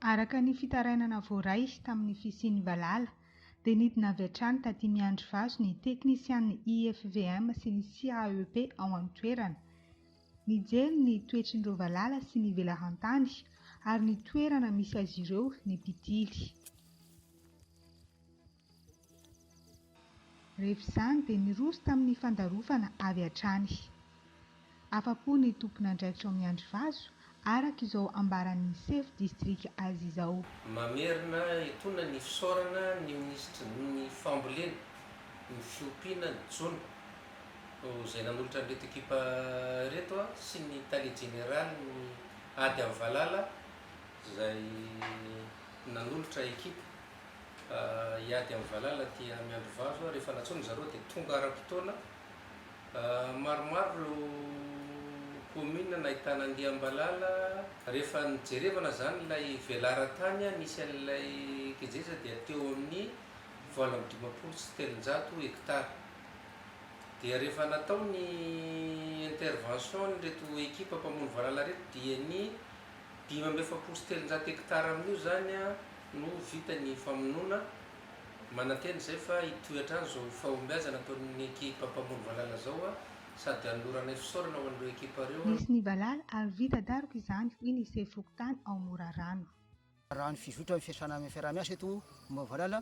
Araka ny fitarainana voaray tamin'ny fisian'ny valala, dia nidina avy hatrany taty Miandrivazo ny teknisian'ny IFVM sy ny CAEP ao an-toerana. Nijery ny toetry ireo valala sy ny velaran-tany ary ny toerana misy azy ireo ny mpitily. Rehefa izany dia niroso tamin'ny fandarofana avy hatrany. Afa-po ny tompon'andraikitra ao Miandrivazo araka izao ambaran'ny sefo distrika azy izao. Mamerina etoana ny fisaorana ny minisitry ny Fambolena, ny fiompiana, ny jono, izay nanolotra an'ireto ekipa ireto sy ny tale jeneralin'ny ady amin'ny valala izay nanolotra ekipa hiady amin'ny valala aty Miandrivazo rehefa nantsoina zareo dia tonga ara-potoana Maromaro ireo commune nahitana andiam-balala, rehefa nijerevana izany ilay velaran-tany nisy an'ilay kejeja dia teo amin'ny valo amby dimampolo sy telonjato hectares, dia rehefa natao ny intervention n'ireto ekipa mpamono valala ireto dia ny dimy amby efapolo sy telonjato hectares amin'io izany no vita ny famonoana Manantena izay fa hitohy hatrany izao fahombiazana ataon'ny ekipa mpamono valala izao sady hanoloranay fisaorana ho an'ireo ekipa ireo. Nisy ny valala ary vita daroka izany, hoy ny sefo fokontany ao Morarano. Raha ny fizotra ny fiasana amin'ny fiaraha-miasa eto momba ny valala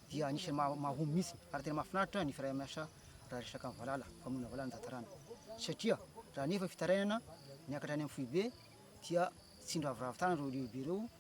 dia anisan'ny maha mahomby mihitsy ary tena mahafinaritra ny fiaraha-miasa raha resaka ny valala, famonoana valala ny tantarana satria raha nefa fitarainana miakatra any amin'ny foibe dia tsy niraviravy tany ireo lehibe ireo